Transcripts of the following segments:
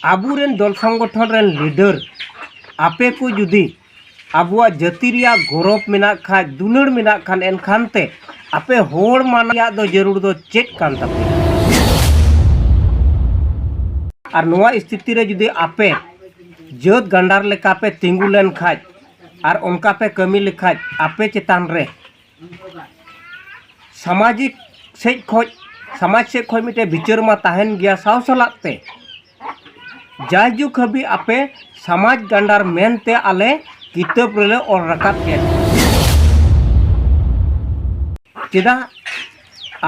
ᱟᱵᱚᱨᱮᱱ ᱫᱚᱞ ᱥᱚᱝᱜᱚᱴᱷᱚᱱ ᱨᱮᱱ ᱞᱤᱰᱟᱹᱨ ᱟᱯᱮ ᱠᱚ ᱡᱩᱫᱤ ᱟᱵᱚᱣᱟᱜ ᱡᱟᱹᱛᱤ ᱨᱮᱭᱟᱜ ᱜᱚᱨᱚᱵᱽ ᱢᱮᱱᱟᱜ ᱠᱷᱟᱱ ᱫᱩᱞᱟᱹᱲ ᱢᱮᱱᱟᱜ ᱠᱷᱟᱱ ᱮᱱᱠᱷᱟᱱ ᱛᱮ ᱟᱯᱮ ᱦᱚᱲ ᱢᱟᱱ ᱨᱮᱭᱟᱜ ᱫᱚ ᱡᱟᱹᱨᱩᱲ ᱫᱚ ᱪᱮᱫ ᱠᱟᱱ ᱛᱟᱯᱮᱭᱟ ᱟᱨ ᱱᱚᱣᱟ ᱥᱛᱷᱤᱛᱤ ᱨᱮ ᱡᱩᱫᱤ ᱟᱯᱮ ᱡᱟᱹᱛ ᱜᱟᱱᱰᱟᱨ ᱞᱮᱠᱟ ᱯᱮ ᱛᱤᱸᱜᱩ ᱞᱮᱱ ᱠᱷᱟᱱ ᱟᱨ ᱚᱱᱠᱟ ᱯᱮ ᱠᱟᱹᱢᱤ ᱞᱮᱠᱷᱟᱱ ᱟᱯᱮ ᱪᱮᱛᱟᱱ ᱨᱮ ᱥᱟᱢᱟᱡᱤᱠ ᱥᱮᱡ ᱠᱷᱚᱡ ᱥᱟᱢᱟᱡᱽ ᱥᱮᱡ ᱠᱷᱚᱡ ᱢᱤᱫᱴᱮᱡ ᱵᱤᱪᱟᱹᱨ ᱢᱟ ᱛᱟᱦᱮᱱ ᱜᱮᱭᱟ ᱥᱟᱶ ᱥᱟᱞᱟᱜ ᱛᱮ ᱡᱟᱭᱡᱩᱜᱽ ᱦᱟᱹᱵᱤᱡ ᱟᱯᱮ ᱥᱟᱢᱟᱡᱽ ᱜᱟᱱᱰᱟᱨ ᱢᱮᱱᱛᱮ ᱟᱞᱮ ᱠᱤᱛᱟᱹᱵ ᱨᱮᱞᱮ ᱚᱞ ᱨᱟᱠᱟᱵ ᱯᱮᱭᱟ ᱪᱮᱫᱟᱜ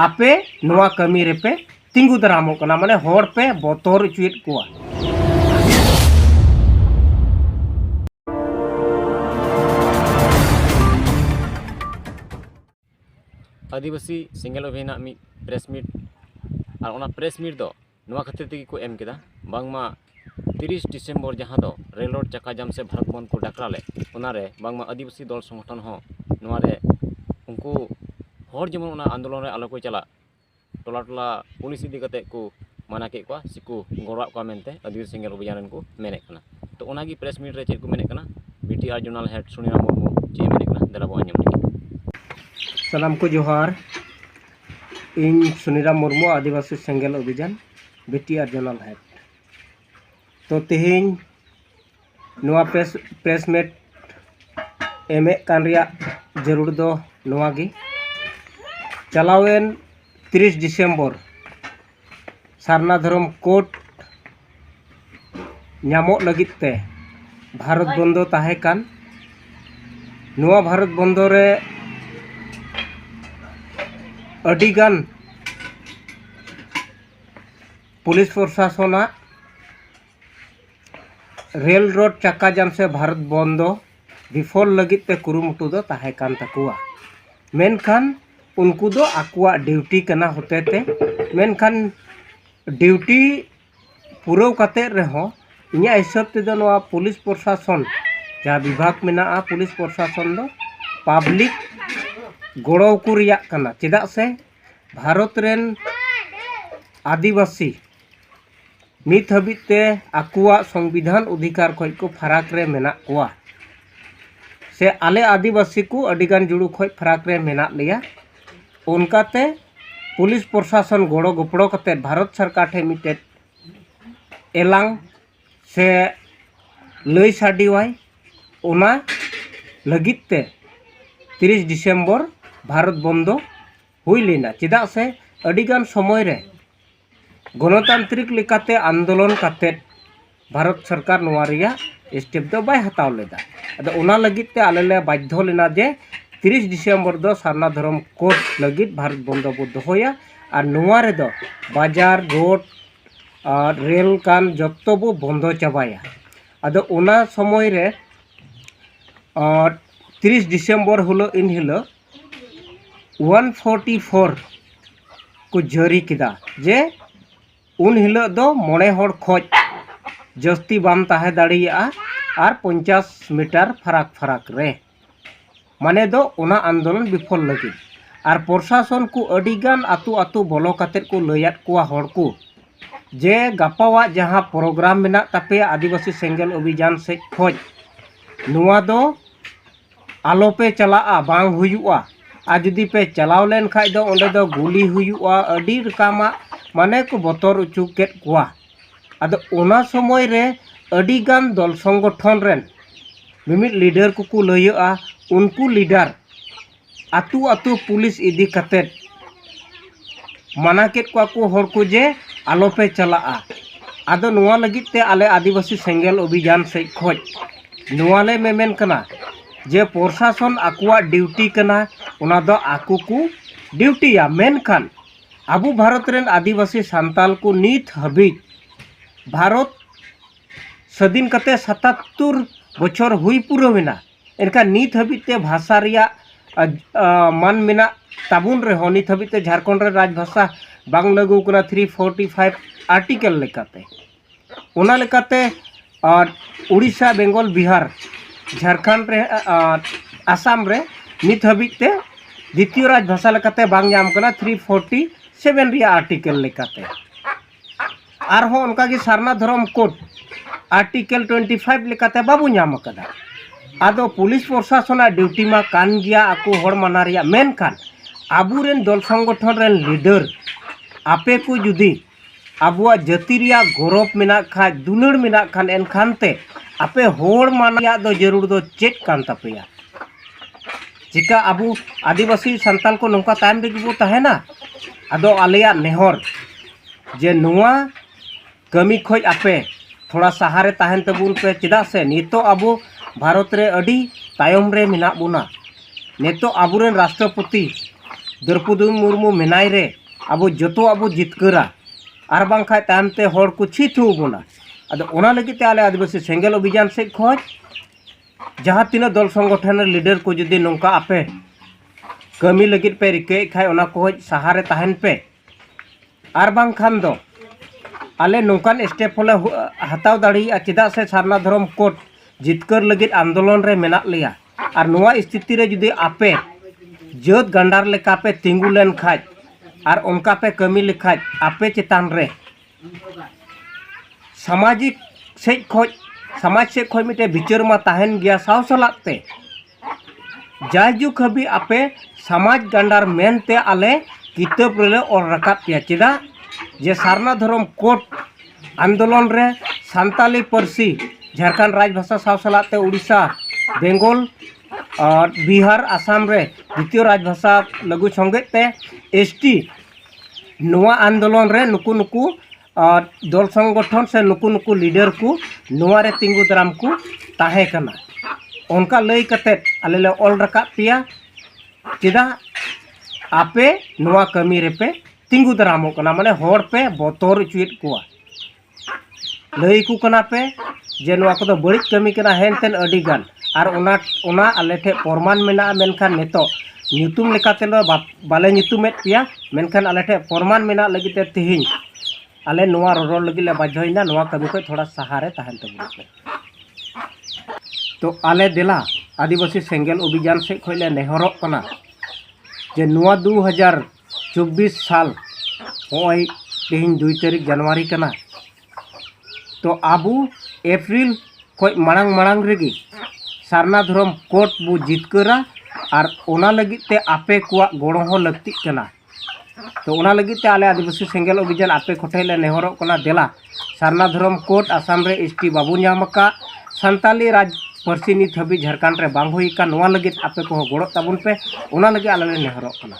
ᱟᱯᱮ ᱱᱚᱣᱟ ᱠᱟᱹᱢᱤ ᱨᱮᱯᱮ ᱛᱤᱸᱜᱩ ᱫᱟᱨᱟᱢᱚᱜ ᱠᱟᱱᱟ ᱢᱟᱱᱮ ᱦᱚᱲ ᱯᱮ ᱵᱚᱛᱚᱨ ᱚᱪᱚᱭᱮᱫ ᱠᱚᱣᱟ ᱟᱹᱫᱤᱵᱟᱹᱥᱤ ᱥᱮᱸᱜᱮᱞ ᱚᱵᱷᱤ ᱨᱮᱱᱟᱜ ᱢᱤᱫ ᱯᱨᱮᱥ ᱢᱤᱴ ᱟᱨ ᱚᱱᱟ ᱯᱨᱮᱥ ᱢᱤᱴ ᱫᱚ ᱱᱚᱣᱟ ᱠᱷᱟᱹᱛᱤᱨ ᱛᱮᱜᱮ ᱠᱚ ᱮᱢ ᱠᱮᱫᱟ ᱵᱟᱝᱢᱟ ᱛᱤᱨᱤᱥ ᱰᱤᱥᱮᱢᱵᱚᱨ ᱡᱟᱦᱟᱸ ᱫᱚ ᱨᱮᱞ ᱨᱳᱰ ᱪᱟᱠᱟ ᱡᱟᱢ ᱥᱮ ᱵᱷᱟᱨᱚᱛ ᱵᱚᱱᱫᱷ ᱠᱚ ᱰᱟᱠᱨᱟ ᱞᱮᱫ ᱚᱱᱟᱨᱮ ᱵᱟᱝᱢᱟ ᱟᱹᱫᱤᱵᱟᱹᱥᱤ ᱫᱚᱞ ᱥᱚᱝᱜᱚᱴᱷᱚᱱ ᱦᱚᱸ ᱱᱚᱣᱟᱨᱮ ᱩᱱᱠᱩ ᱦᱚᱲ ᱡᱮᱢᱚᱱ ᱚᱱᱟ ᱟᱱᱫᱳᱞᱚᱱ ᱨᱮ ᱟᱞᱚ ᱠᱚ ᱪᱟᱞᱟᱜ ᱴᱚᱞᱟ ᱴᱚᱞᱟ ᱯᱩᱞᱤᱥ ᱤᱫᱤ ᱠᱟᱛᱮ ᱠᱚ ᱢᱟᱱᱟ ᱠᱮᱫ ᱠᱚᱣᱟ ᱥᱮᱠᱚ ᱜᱚᱲᱚᱣᱟᱫ ᱠᱚᱣᱟ ᱢᱮᱱᱛᱮ ᱟᱹᱫᱤᱵᱟᱹᱥᱤ ᱥᱮᱸᱜᱮᱞ ᱚᱵᱷᱤᱡᱟᱱ ᱨᱮᱱ ᱠᱚ ᱢᱮᱱᱮᱫ ᱠᱟᱱᱟ ᱛᱚ ᱚᱱᱟᱜᱮ ᱯᱨᱮᱥ ᱢᱤᱴ ᱨᱮ ᱪᱮᱫ ᱠᱚ ᱢᱮᱱᱮᱫ ᱠᱟᱱᱟ ᱵᱤᱴᱤ ᱟᱨ ᱡᱳᱱᱟᱞ ᱦᱮᱰ ᱥᱩᱱᱤᱨᱟᱢ ᱢᱩᱨᱢᱩ ᱪᱮᱫ ᱮ ᱢᱮᱱᱮᱫ ᱠᱟᱱᱟ ᱫᱮᱞᱟ ᱵᱚᱱ ᱟᱸᱡᱚᱢ ᱞᱮᱜᱮ ᱥᱟᱱᱟᱢ ᱠᱚ ᱡᱚᱦᱟᱨ ᱤᱧ ᱥᱩᱱᱤᱨᱟᱢ ᱢᱩᱨᱢᱩ ᱟᱹᱫᱤᱵᱟᱹᱥᱤ ᱥᱮᱸᱜᱮᱞ ᱚᱵᱷᱤᱡᱟᱱ ᱵᱤᱴᱤ ᱟᱨ ᱡᱳᱱᱟᱞ ᱦᱮᱰ ᱛᱚ ᱛᱮᱦᱮᱧ ᱱᱚᱣᱟ ᱯᱮᱥ ᱯᱮᱥ ᱢᱮᱴ ᱮᱢᱮᱫ ᱠᱟᱱ ᱨᱮᱭᱟᱜ ᱡᱟᱹᱨᱩᱲ ᱫᱚ ᱱᱚᱣᱟ ᱜᱮ ᱪᱟᱞᱟᱣᱮᱱ ᱛᱤᱨᱤᱥ ᱰᱤᱥᱮᱢᱵᱚᱨ ᱥᱟᱨᱱᱟ ᱫᱷᱚᱨᱚᱢ ᱠᱳᱰ ᱧᱟᱢᱚᱜ ᱞᱟᱹᱜᱤᱫ ᱛᱮ ᱵᱷᱟᱨᱚᱛ ᱵᱚᱱᱫᱚ ᱛᱟᱦᱮᱸ ᱠᱟᱱ ᱱᱚᱣᱟ ᱵᱷᱟᱨᱚᱛ ᱵᱚᱱᱫᱚ ᱨᱮ ᱟᱹᱰᱤ ᱜᱟᱱ ᱯᱩᱞᱤᱥ ᱯᱨᱚᱥᱟᱥᱚᱱᱟᱜ ᱨᱮᱞ ᱨᱳᱰ ᱪᱟᱠᱟ ᱡᱟᱢ ᱥᱮ ᱵᱷᱟᱨᱚᱛ ᱵᱚᱸᱫᱽ ᱫᱚ ᱵᱤᱯᱷᱚᱞ ᱞᱟᱹᱜᱤᱫ ᱛᱮ ᱠᱩᱨᱩᱢᱩᱴᱩ ᱫᱚ ᱛᱟᱦᱮᱸ ᱠᱟᱱ ᱛᱟᱠᱚᱣᱟ ᱢᱮᱱᱠᱷᱟᱱ ᱩᱱᱠᱩ ᱫᱚ ᱟᱠᱚᱣᱟᱜ ᱰᱤᱭᱩᱴᱤ ᱠᱟᱱᱟ ᱦᱚᱛᱮ ᱛᱮ ᱢᱮᱱᱠᱷᱟᱱ ᱰᱤᱭᱩᱴᱤ ᱯᱩᱨᱟᱹᱣ ᱠᱟᱛᱮᱫ ᱨᱮᱦᱚᱸ ᱤᱧᱟᱹᱜ ᱦᱤᱥᱟᱹᱵ ᱛᱮᱫᱚ ᱱᱚᱣᱟ ᱯᱩᱞᱤᱥ ᱯᱨᱚᱥᱟᱥᱚᱱ ᱡᱟᱦᱟᱸ ᱵᱤᱵᱷᱟᱜᱽ ᱢᱮᱱᱟᱜᱼᱟ ᱯᱩᱞᱤᱥ ᱯᱨᱚᱥᱟᱥᱚᱱ ᱫᱚ ᱯᱟᱵᱽᱞᱤᱠ ᱜᱚᱲᱚᱣᱟᱠᱚ ᱨᱮᱭᱟᱜ ᱠᱟᱱᱟ ᱪᱮᱫᱟᱜ ᱥᱮ ᱵᱷᱟᱨᱚᱛ ᱨᱮᱱ ᱟᱹᱫᱤᱵᱟᱹᱥᱤ ᱱᱤᱛ ᱦᱟᱹᱵᱤᱡ ᱛᱮ ᱟᱠᱚᱣᱟᱜ ᱥᱚᱝᱵᱤᱫᱷᱟᱱ ᱚᱫᱷᱤᱠᱟᱨ ᱠᱷᱚᱱ ᱠᱚ ᱯᱷᱟᱨᱟᱠ ᱨᱮ ᱢᱮᱱᱟᱜ ᱠᱚᱣᱟ ᱥᱮ ᱟᱞᱮ ᱟᱹᱫᱤᱵᱟᱹᱥᱤ ᱠᱚ ᱟᱹᱰᱤ ᱜᱟᱱ ᱡᱩᱲᱩ ᱠᱷᱚᱱ ᱯᱷᱟᱨᱟᱠ ᱨᱮ ᱢᱮᱱᱟᱜ ᱞᱮᱭᱟ ᱚᱱᱠᱟ ᱛᱮ ᱯᱩᱞᱤᱥ ᱯᱨᱚᱥᱟᱥᱚᱱ ᱜᱚᱲᱚ ᱜᱚᱯᱚᱲᱚ ᱠᱟᱛᱮᱫ ᱵᱷᱟᱨᱚᱛ ᱥᱚᱨᱠᱟᱨ ᱴᱷᱮᱱ ᱢᱤᱫᱴᱮᱱ ᱮᱞᱟᱝ ᱥᱮ ᱞᱟᱹᱭ ᱥᱟᱰᱮᱣᱟᱭ ᱚᱱᱟ ᱞᱟᱹᱜᱤᱫ ᱛᱮ ᱛᱤᱨᱤᱥ ᱰᱤᱥᱮᱢᱵᱚᱨ ᱵᱷᱟᱨᱚᱛ ᱵᱚᱱᱫᱚ ᱦᱩᱭ ᱞᱮᱱᱟ ᱪᱮᱫᱟᱜ ᱥᱮ ᱟᱹᱰᱤᱜᱟᱱ ᱥᱚᱢᱚᱭ ᱨᱮ ᱜᱚᱱᱚᱛᱟᱱᱛᱨᱤᱠ ᱞᱮᱠᱟᱛᱮ ᱟᱱᱫᱳᱞᱚᱱ ᱠᱟᱛᱮ ᱵᱷᱟᱨᱚᱛ ᱥᱚᱨᱠᱟᱨ ᱱᱚᱣᱟ ᱨᱮᱭᱟᱜ ᱥᱴᱮᱯ ᱫᱚ ᱵᱟᱭ ᱦᱟᱛᱟᱣ ᱞᱮᱫᱟ ᱟᱫᱚ ᱚᱱᱟ ᱞᱟᱹᱜᱤᱫ ᱛᱮ ᱟᱞᱮ ᱞᱮ ᱵᱟᱫᱽᱫᱷᱚ ᱞᱮᱱᱟ ᱡᱮ ᱛᱤᱨᱤᱥ ᱰᱤᱥᱮᱢᱵᱚᱨ ᱫᱚ ᱥᱟᱨᱱᱟ ᱫᱷᱚᱨᱚᱢ ᱠᱳᱰ ᱞᱟᱹᱜᱤᱫ ᱵᱷᱟᱨᱚᱛ ᱵᱚᱱᱫᱚ ᱵᱚ ᱫᱚᱦᱚᱭᱟ ᱟᱨ ᱱᱚᱣᱟ ᱨᱮᱫᱚ ᱵᱟᱡᱟᱨ ᱨᱳᱰ ᱟᱨ ᱨᱮᱞ ᱠᱟᱱ ᱡᱚᱛᱚ ᱵᱚ ᱵᱚᱱᱫᱚ ᱪᱟᱵᱟᱭᱟ ᱟᱫᱚ ᱚᱱᱟ ᱥᱚᱢᱚᱭ ᱨᱮ ᱟᱨ ᱛᱤᱨᱤᱥ ᱰᱤᱥᱮᱢᱵᱚᱨ ᱦᱤᱞᱳᱜ ᱮᱱ ᱦᱤᱞᱳᱜ ᱚᱣᱟᱱ ᱯᱷᱳᱨᱴᱤ ᱯᱷᱳᱨ ᱠᱚ ᱡᱟᱹᱨᱤ ᱠᱮᱫᱟ ᱡᱮ ᱩᱱ ᱦᱤᱞᱳᱜ ᱫᱚ ᱢᱚᱬᱮ ᱦᱚᱲ ᱠᱷᱚᱱ ᱡᱟᱹᱥᱛᱤ ᱵᱟᱢ ᱛᱟᱦᱮᱸ ᱫᱟᱲᱮᱭᱟᱜᱼᱟ ᱟᱨ ᱯᱚᱧᱪᱟᱥ ᱢᱤᱴᱟᱨ ᱯᱷᱟᱨᱟᱠ ᱯᱷᱟᱨᱟᱠ ᱨᱮ ᱢᱟᱱᱮ ᱫᱚ ᱚᱱᱟ ᱟᱱᱫᱳᱞᱚᱱ ᱵᱤᱯᱷᱚᱞ ᱞᱟᱹᱜᱤᱫ ᱟᱨ ᱯᱨᱚᱥᱟᱥᱚᱱ ᱠᱚ ᱟᱹᱰᱤ ᱜᱟᱱ ᱟᱹᱛᱩ ᱟᱹᱛᱩ ᱵᱚᱞᱚ ᱠᱟᱛᱮᱫ ᱠᱚ ᱞᱟᱹᱭᱟᱫ ᱠᱚᱣᱟ ᱦᱚᱲ ᱠᱚ ᱡᱮ ᱜᱟᱯᱟᱣᱟᱜ ᱡᱟᱦᱟᱸ ᱯᱨᱳᱜᱨᱟᱢ ᱢᱮᱱᱟᱜ ᱛᱟᱯᱮᱭᱟ ᱟᱹᱫᱤᱵᱟᱹᱥᱤ ᱥᱮᱸᱜᱮᱞ ᱚᱵᱷᱤᱡᱟᱱ ᱥᱮᱫ ᱠᱷᱚᱱ ᱱᱚᱣᱟ ᱫᱚ ᱟᱞᱚ ᱯᱮ ᱪᱟᱞᱟᱜᱼᱟ ᱵᱟᱝ ᱦᱩᱭᱩᱜᱼᱟ ᱟᱨ ᱡᱩᱫᱤ ᱯᱮ ᱪᱟᱞᱟᱣ ᱞᱮᱱ ᱠᱷᱟᱱ ᱫᱚ ᱚᱸᱰᱮ ᱫᱚ ᱜᱩᱞᱤ ᱦᱩᱭᱩᱜᱼᱟ ᱟᱹᱰᱤ ᱞᱮᱠᱟᱱᱟᱜ ᱢᱟᱱᱮ ᱠᱚ ᱵᱚᱛᱚᱨ ᱦᱚᱪᱚ ᱠᱮᱫ ᱠᱚᱣᱟ ᱟᱫᱚ ᱚᱱᱟ ᱥᱚᱢᱚᱭ ᱨᱮ ᱟᱹᱰᱤ ᱜᱟᱱ ᱫᱚᱞ ᱥᱚᱝᱜᱚᱴᱷᱚᱱ ᱨᱮᱱ ᱢᱤᱢᱤᱫ ᱞᱤᱰᱟᱹᱨ ᱠᱚᱠᱚ ᱞᱟᱹᱭᱟᱹᱜᱼᱟ ᱩᱱᱠᱩ ᱞᱤᱰᱟᱨ ᱟᱹᱛᱩ ᱟᱹᱛᱩ ᱯᱩᱞᱤᱥ ᱤᱫᱤ ᱠᱟᱛᱮᱫ ᱢᱟᱱᱟ ᱠᱮᱫ ᱠᱚᱣᱟ ᱠᱚ ᱦᱚᱲ ᱠᱚ ᱡᱮ ᱟᱞᱚ ᱯᱮ ᱪᱟᱞᱟᱜᱼᱟ ᱟᱫᱚ ᱱᱚᱣᱟ ᱞᱟᱹᱜᱤᱫ ᱛᱮ ᱟᱞᱮ ᱟᱹᱫᱤᱵᱟᱹᱥᱤ ᱥᱮᱸᱜᱮᱞ ᱚᱵᱷᱤᱡᱟᱱ ᱥᱮᱫ ᱠᱷᱚᱱ ᱱᱚᱣᱟ ᱞᱮ ᱢᱮᱢᱮᱱ ᱠᱟᱱᱟ ᱡᱮ ᱯᱨᱚᱥᱟᱥᱚᱱ ᱟᱠᱚᱣᱟᱜ ᱰᱤᱭᱩᱴᱤ ᱠᱟᱱᱟ ᱚᱱᱟ ᱫᱚ ᱟᱠᱚ ᱠᱚ ᱰᱤᱭᱩᱴᱤᱭᱟ ᱢᱮᱱᱠᱷᱟᱱ ᱟᱵᱚ ᱵᱷᱟᱨᱚᱛ ᱨᱮᱱ ᱟᱹᱫᱤᱵᱟᱹᱥᱤ ᱥᱟᱱᱛᱟᱲ ᱠᱚ ᱱᱤᱛ ᱦᱟᱹᱵᱤᱡ ᱵᱷᱟᱨᱚᱛ ᱥᱟᱹᱫᱷᱤᱱ ᱠᱟᱛᱮ ᱥᱟᱛᱟᱛᱛᱳᱨ ᱵᱚᱪᱷᱚᱨ ᱦᱩᱭ ᱯᱩᱨᱟᱹᱣ ᱮᱱᱟ ᱮᱱᱠᱷᱟᱱ ᱱᱤᱛ ᱦᱟᱹᱵᱤᱡ ᱛᱮ ᱵᱷᱟᱥᱟ ᱨᱮᱭᱟᱜ ᱢᱟᱱ ᱢᱮᱱᱟᱜ ᱛᱟᱵᱚᱱ ᱨᱮᱦᱚᱸ ᱱᱤᱛ ᱦᱟᱹᱵᱤᱡ ᱛᱮ ᱡᱷᱟᱲᱠᱷᱚᱸᱰ ᱨᱮ ᱨᱟᱡᱽ ᱵᱷᱟᱥᱟ ᱵᱟᱝ ᱞᱟᱹᱜᱩ ᱟᱠᱟᱱᱟ ᱛᱷᱨᱤ ᱯᱷᱳᱨᱴᱤ ᱯᱷᱟᱭᱤᱵᱷ ᱟᱨᱴᱤᱠᱮᱞ ᱞᱮᱠᱟᱛᱮ ᱚᱱᱟ ᱞᱮᱠᱟᱛᱮ ᱳᱰᱤᱥᱟ ᱵᱮᱝᱜᱚᱞ ᱵᱤᱦᱟᱨ ᱡᱷᱟᱲᱠᱷᱚᱸᱰ ᱨᱮ ᱟᱨ ᱟᱥᱟᱢ ᱨᱮ ᱱᱤᱛ ᱦᱟᱹᱵᱤᱡ ᱛᱮ ᱫᱤᱛᱤᱭᱚ ᱨᱟᱡᱽ ᱵᱷᱟᱥᱟ ᱞᱮᱠᱟᱛᱮ ᱵᱟᱝ ᱧᱟᱢ ᱠᱟᱱᱟ ᱛᱷᱨᱤ ᱯᱷᱳᱨᱴᱤ ᱥᱮᱵᱷᱮᱱ ᱨᱮᱭᱟᱜ ᱟᱨᱴᱤᱠᱮᱞ ᱞᱮᱠᱟᱛᱮ ᱟᱨᱦᱚᱸ ᱚᱱᱠᱟ ᱜᱮ Sarna Dharam code article twenty five ᱞᱮᱠᱟᱛᱮ ᱵᱟᱵᱚ ᱧᱟᱢ ᱠᱟᱫᱟ ᱟᱫᱚ ᱯᱩᱞᱤᱥ ᱯᱨᱚᱥᱟᱥᱚᱱᱟᱜ ᱰᱤᱭᱩᱴᱤ ᱢᱟ ᱠᱟᱱ ᱜᱮᱭᱟ ᱟᱠᱚ ᱦᱚᱲ ᱢᱟᱱᱟ ᱨᱮᱭᱟᱜ ᱢᱮᱱᱠᱷᱟᱱ ᱟᱵᱚ ᱨᱮᱱ ᱫᱚᱞ ᱥᱚᱝᱜᱚᱴᱷᱚᱱ ᱨᱮᱱ ᱞᱤᱰᱟᱹᱨ ᱟᱯᱮ ᱠᱚ ᱡᱩᱫᱤ ᱟᱵᱚᱣᱟᱜ ᱡᱟᱹᱛᱤ ᱨᱮᱭᱟᱜ ᱜᱚᱨᱚᱵᱽ ᱢᱮᱱᱟᱜ ᱠᱷᱟᱱ ᱫᱩᱞᱟᱹᱲ ᱢᱮᱱᱟᱜ ᱠᱷᱟᱱ ᱮᱱᱠᱷᱟᱱ ᱛᱮ ᱟᱯᱮ ᱦᱚᱲ ᱢᱟᱱ ᱨᱮᱭᱟᱜ ᱫᱚ ᱡᱟᱹᱨᱩᱲ ᱫᱚ ᱪᱮᱫ ᱠᱟᱱ ᱛᱟᱯᱮᱭᱟ ᱪᱮᱠᱟ ᱟᱵᱚ ᱟᱹᱫᱤᱵᱟᱹᱥᱤ ᱥᱟᱱᱛᱟᱲ ᱠᱚ ᱱᱚᱝᱠᱟ ᱛᱟᱭᱚᱢ ᱨᱮᱜᱮ ᱵᱚ ᱛᱟᱦᱮᱱᱟ ᱟᱫᱚ ᱟᱞᱮᱭᱟᱜ ᱱᱮᱦᱚᱨ ᱡᱮ ᱱᱚᱣᱟ ᱠᱟᱹᱢᱤ ᱠᱷᱚᱱ ᱟᱯᱮ ᱛᱷᱚᱲᱟ ᱥᱟᱦᱟ ᱨᱮ ᱛᱟᱦᱮᱱ ᱛᱟᱵᱚᱱ ᱯᱮ ᱪᱮᱫᱟᱜ ᱥᱮ ᱱᱤᱛᱚᱜ ᱟᱵᱚ ᱵᱷᱟᱨᱚᱛ ᱨᱮ ᱟᱹᱰᱤ ᱛᱟᱭᱚᱢ ᱨᱮ ᱢᱮᱱᱟᱜ ᱵᱚᱱᱟ ᱱᱤᱛᱚᱜ ᱟᱵᱚ ᱨᱮᱱ ᱨᱟᱥᱴᱨᱚᱯᱚᱛᱤ ᱫᱨᱳᱣᱯᱚᱫᱤ ᱢᱩᱨᱢᱩ ᱢᱮᱱᱟᱭ ᱨᱮ ᱟᱵᱚ ᱡᱚᱛᱚᱣᱟᱜ ᱵᱚ ᱡᱤᱛᱠᱟᱹᱨᱟ ᱟᱨ ᱵᱟᱝᱠᱷᱟᱱ ᱛᱟᱭᱚᱢ ᱛᱮ ᱦᱚᱲ ᱠᱚ ᱪᱷᱤ ᱛᱷᱩ ᱟᱵᱚᱱᱟ ᱟᱫᱚ ᱚᱱᱟ ᱞᱟᱹᱜᱤᱫ ᱛᱮ ᱟᱞᱮ ᱟᱹᱫᱤᱵᱟᱹᱥᱤ ᱥᱮᱸᱜᱮᱞ ᱚᱵᱷᱤᱡᱟᱱ ᱥᱮᱫ ᱠᱷᱚᱱ ᱡᱟᱦᱟᱸ ᱛᱤᱱᱟᱹᱜ ᱫᱚᱞ ᱥᱚᱝᱜᱚᱴᱷᱚᱱ ᱨᱮᱱ ᱞᱤᱰᱟᱨ ᱠᱚ ᱡᱩᱫᱤ ᱱᱚᱝᱠᱟ ᱟᱯᱮ ᱠᱟᱹᱢᱤ ᱞᱟᱹᱜᱤᱫ ᱯᱮ ᱨᱤᱠᱟᱹᱭᱮᱫ ᱠᱷᱟᱱ ᱚᱱᱟ ᱠᱷᱚᱱ ᱥᱟᱦᱟ ᱨᱮ ᱛᱟᱦᱮᱱ ᱯᱮ ᱟᱨ ᱵᱟᱝᱠᱷᱟᱱ ᱫᱚ ᱟᱞᱮ ᱱᱚᱝᱠᱟᱱ ᱥᱴᱮᱯ ᱦᱚᱸᱞᱮ ᱦᱟᱛᱟᱣ ᱫᱟᱲᱮᱭᱟᱜᱼᱟ ᱪᱮᱫᱟᱜ ᱥᱮ ᱥᱟᱨᱱᱟ ᱫᱷᱚᱨᱚᱢ ᱠᱳᱰ ᱡᱤᱛᱠᱟᱹᱨ ᱞᱟᱹᱜᱤᱫ ᱟᱱᱫᱳᱞᱚᱱ ᱨᱮ ᱢᱮᱱᱟᱜ ᱞᱮᱭᱟ ᱟᱨ ᱱᱚᱣᱟ ᱥᱛᱷᱤᱛᱤ ᱨᱮ ᱡᱩᱫᱤ ᱟᱯᱮ ᱡᱟᱹᱛ ᱜᱟᱱᱰᱟᱨ ᱞᱮᱠᱟ ᱯᱮ ᱛᱤᱸᱜᱩ ᱞᱮᱱ ᱠᱷᱟᱱ ᱟᱨ ᱚᱱᱠᱟ ᱯᱮ ᱠᱟᱹᱢᱤ ᱞᱮᱠᱷᱟᱱ ᱟᱯᱮ ᱪᱮᱛᱟᱱ ᱨᱮ ᱥᱟᱢᱟᱡᱤᱠ ᱥᱮᱫ ᱠᱷᱚᱱ ᱥᱟᱢᱟᱡᱽ ᱥᱮᱫ ᱠᱷᱚᱱ ᱢᱤᱫᱴᱮᱱ ᱵᱤᱪᱟᱹᱨ ᱢᱟ ᱛᱟᱦᱮᱱ ᱜᱮᱭᱟ ᱥᱟᱶ ᱥᱟᱞᱟᱜ ᱛᱮ ᱡᱟᱭᱡᱩᱜᱽ ᱦᱟᱹᱵᱤᱡ ᱟᱯᱮ ᱥᱟᱢᱟᱡᱽ ᱜᱟᱱᱰᱟᱨ ᱢᱮᱱᱛᱮ ᱟᱞᱮ ᱠᱤᱛᱟᱹᱵ ᱨᱮᱞᱮ ᱚᱞ ᱨᱟᱠᱟᱵ ᱯᱮᱭᱟ ᱪᱮᱫᱟᱜ ᱡᱮ ᱥᱟᱨᱱᱟ ᱫᱷᱚᱨᱚᱢ ᱠᱳᱰ ᱟᱱᱫᱳᱞᱚᱱ ᱨᱮ ᱥᱟᱱᱛᱟᱲᱤ ᱯᱟᱹᱨᱥᱤ ᱡᱷᱟᱲᱠᱷᱚᱸᱰ ᱨᱟᱡᱽ ᱵᱷᱟᱥᱟ ᱥᱟᱶ ᱥᱟᱞᱟᱜ ᱛᱮ ᱳᱰᱤᱥᱟ ᱵᱮᱝᱜᱚᱞ ᱟᱨ ᱵᱤᱦᱟᱨ ᱟᱥᱟᱢ ᱨᱮ ᱫᱤᱛᱤᱭᱚ ᱨᱟᱡᱽ ᱵᱷᱟᱥᱟ ᱞᱟᱹᱜᱩ ᱥᱚᱸᱜᱮ ᱛᱮ ᱮᱥ ᱴᱤ ᱱᱚᱣᱟ ᱟᱱᱫᱳᱞᱚᱱ ᱨᱮ ᱱᱩᱠᱩ ᱱᱩᱠᱩ ᱟᱨ ᱫᱚᱞ ᱥᱚᱝᱜᱚᱴᱷᱚᱱ ᱥᱮ ᱱᱩᱠᱩ ᱱᱩᱠᱩ ᱞᱤᱰᱟᱨ ᱠᱚ ᱱᱚᱣᱟ ᱨᱮ ᱛᱤᱸᱜᱩ ᱫᱟᱨᱟᱢ ᱠᱚ ᱛᱟᱦᱮᱸ ᱠᱟᱱᱟ ᱚᱱᱠᱟ ᱞᱟᱹᱭ ᱠᱟᱛᱮᱫ ᱟᱞᱮ ᱞᱮ ᱚᱞ ᱨᱟᱠᱟᱵ ᱯᱮᱭᱟ ᱪᱮᱫᱟᱜ ᱟᱯᱮ ᱱᱚᱣᱟ ᱠᱟᱹᱢᱤ ᱨᱮᱯᱮ ᱛᱤᱸᱜᱩ ᱫᱟᱨᱟᱢᱚᱜ ᱠᱟᱱᱟ ᱢᱟᱱᱮ ᱦᱚᱲ ᱯᱮ ᱵᱚᱛᱚᱨ ᱦᱚᱪᱚᱭᱮᱫ ᱠᱚᱣᱟ ᱞᱟᱹᱭ ᱟᱠᱚ ᱠᱟᱱᱟ ᱯᱮ ᱡᱮ ᱱᱚᱣᱟ ᱠᱚᱫᱚ ᱵᱟᱹᱲᱤᱡ ᱠᱟᱹᱢᱤ ᱠᱟᱱᱟ ᱦᱮᱱᱛᱮᱱ ᱟᱹᱰᱤ ᱜᱟᱱ ᱟᱨ ᱚᱱᱟ ᱚᱱᱟ ᱟᱞᱮ ᱴᱷᱮᱱ ᱯᱨᱚᱢᱟᱱ ᱢᱮᱱᱟᱜᱼᱟ ᱢᱮᱱᱠᱷᱟᱱ ᱱᱤᱛᱚᱜ ᱧᱩᱛᱩᱢ ᱞᱮᱠᱟ ᱛᱮᱫᱚ ᱵᱟᱞᱮ ᱧᱩᱛᱩᱢᱮᱫ ᱯᱮᱭᱟ ᱢᱮᱱᱠᱷᱟᱱ ᱟᱞᱮ ᱴᱷᱮᱱ ᱯᱨᱚᱢᱟᱱ ᱢᱮᱱᱟᱜ ᱞᱟᱹᱜᱤᱫ ᱛᱮ ᱛᱮᱦᱮᱧ ᱟᱞᱮ ᱱᱚᱣᱟ ᱨᱚᱨᱚᱲ ᱞᱟᱹᱜᱤᱫ ᱞᱮ ᱵᱟᱫᱽᱫᱷᱚᱭᱮᱱᱟ ᱱᱚᱣᱟ ᱠᱟᱹᱢᱤ ᱠᱷᱚᱱ ᱛᱷᱚᱲᱟ ᱥᱟᱦᱟ ᱨᱮ ᱛᱟᱦᱮᱱ ᱛᱟᱵᱚᱱ ᱯᱮ ᱛᱚ ᱟᱞᱮ ᱫᱮᱞᱟ ᱟᱹᱫᱤᱵᱟᱹᱥᱤ ᱥᱮᱸᱜᱮᱞ ᱚᱵᱷᱤᱡᱟᱱ ᱥᱮᱫ ᱠᱷᱚᱱ ᱞᱮ ᱱᱮᱦᱚᱨᱚᱜ ᱠᱟᱱᱟ ᱡᱮ ᱱᱚᱣᱟ ᱫᱩ ᱦᱟᱡᱟᱨ ᱪᱚᱵᱽᱵᱤᱥ ᱥᱟᱞ ᱱᱚᱜᱼᱚᱭ ᱛᱮᱦᱮᱧ ᱫᱩᱭ ᱛᱟᱹᱨᱤᱠᱷ ᱡᱟᱱᱩᱣᱟᱨᱤ ᱠᱟᱱᱟ ᱛᱚ ᱟᱵᱚ ᱮᱯᱨᱤᱞ ᱠᱷᱚᱡ ᱢᱟᱲᱟᱝ ᱢᱟᱲᱟᱝ ᱨᱮᱜᱮ ᱥᱟᱨᱱᱟ ᱫᱷᱚᱨᱚᱢ ᱠᱳᱨᱴ ᱵᱚ ᱡᱤᱛᱠᱟᱹᱨᱟ ᱟᱨ ᱚᱱᱟ ᱞᱟᱹᱜᱤᱫ ᱛᱮ ᱟᱯᱮ ᱠᱚᱣᱟᱜ ᱜᱚᱲᱚ ᱦᱚᱸ ᱞᱟᱹᱠᱛᱤᱜ ᱠᱟᱱᱟ ᱛᱚ ᱚᱱᱟ ᱞᱟᱹᱜᱤᱫ ᱛᱮ ᱟᱞᱮ ᱟᱹᱫᱤᱵᱟᱹᱥᱤ ᱥᱮᱸᱜᱮᱞ ᱚᱵᱷᱤᱡᱟᱱ ᱟᱯᱮ ᱠᱚᱴᱷᱮᱱ ᱞᱮ ᱱᱮᱦᱚᱨᱚᱜ ᱠᱟᱱᱟ ᱫᱮᱞᱟ ᱥᱟᱨᱱᱟ ᱫᱷᱚᱨᱚᱢ ᱠᱳᱨᱴ ᱟᱥᱟᱢ ᱨᱮ ᱮᱥ ᱴᱤ ᱵᱟᱵᱚ ᱧᱟᱢ ᱟᱠᱟᱫ ᱥᱟᱱᱛᱟᱞᱤ ᱨᱟᱡᱽ ᱯᱟᱹᱨᱥᱤ ᱱᱤᱛ ᱦᱟᱹᱵᱤᱡ ᱡᱷᱟᱲᱠᱷᱚᱸᱰ ᱨᱮ ᱵᱟᱝ ᱦᱩᱭ ᱟᱠᱟᱱ ᱱᱚᱣᱟ ᱞᱟᱹᱜᱤᱫ ᱟᱯᱮ ᱠᱚᱦᱚᱸ ᱜᱚᱲᱚᱜ ᱛᱟᱵᱚᱱ ᱯᱮ ᱚᱱᱟ ᱞᱟᱹᱜᱤᱫ ᱟᱞᱮ ᱞᱮ ᱱᱮᱦᱚᱨᱚᱜ ᱠᱟᱱᱟ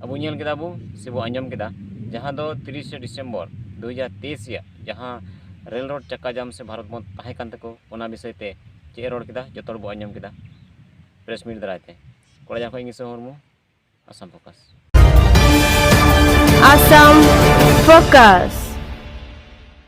ᱟᱵᱚ ᱧᱮᱞ ᱠᱮᱫᱟ ᱵᱚ ᱥᱮᱵᱚ ᱟᱸᱡᱚᱢ ᱠᱮᱫᱟ ᱡᱟᱦᱟᱸ ᱫᱚ ᱛᱤᱨᱤᱥᱮ ᱰᱤᱥᱮᱢᱵᱚᱨ ᱫᱩ ᱦᱟᱡᱟᱨ ᱛᱮᱭᱤᱥ ᱨᱮᱭᱟᱜ ᱡᱟᱦᱟᱸ ᱨᱮᱞ ᱨᱳᱰ ᱪᱟᱠᱟ ᱡᱟᱢ ᱥᱮ ᱵᱷᱟᱨᱚᱛ ᱵᱚᱸᱫᱽ ᱛᱟᱦᱮᱸ ᱠᱟᱱ ᱛᱟᱠᱚ ᱚᱱᱟ ᱵᱤᱥᱚᱭ ᱛᱮ ᱪᱮᱫ ᱮ ᱨᱚᱲ ᱠᱮᱫᱟ ᱡᱚᱛᱚ ᱦᱚᱲ ᱵᱚ ᱟᱸᱡᱚᱢ ᱠᱮᱫᱟ ᱯᱨᱮᱥ ᱢᱤᱴ ᱫᱟᱨᱟᱭ ᱛᱮ ᱠᱚᱲᱟᱡᱟᱝ ᱠᱷᱚᱱ ᱤᱧ ᱤᱥᱟᱹ ᱢᱩᱨᱢᱩ ᱟᱥᱟᱢ ᱯᱷᱳᱠᱟᱥ ᱟᱥᱟᱢ ᱯᱷᱳᱠᱟᱥ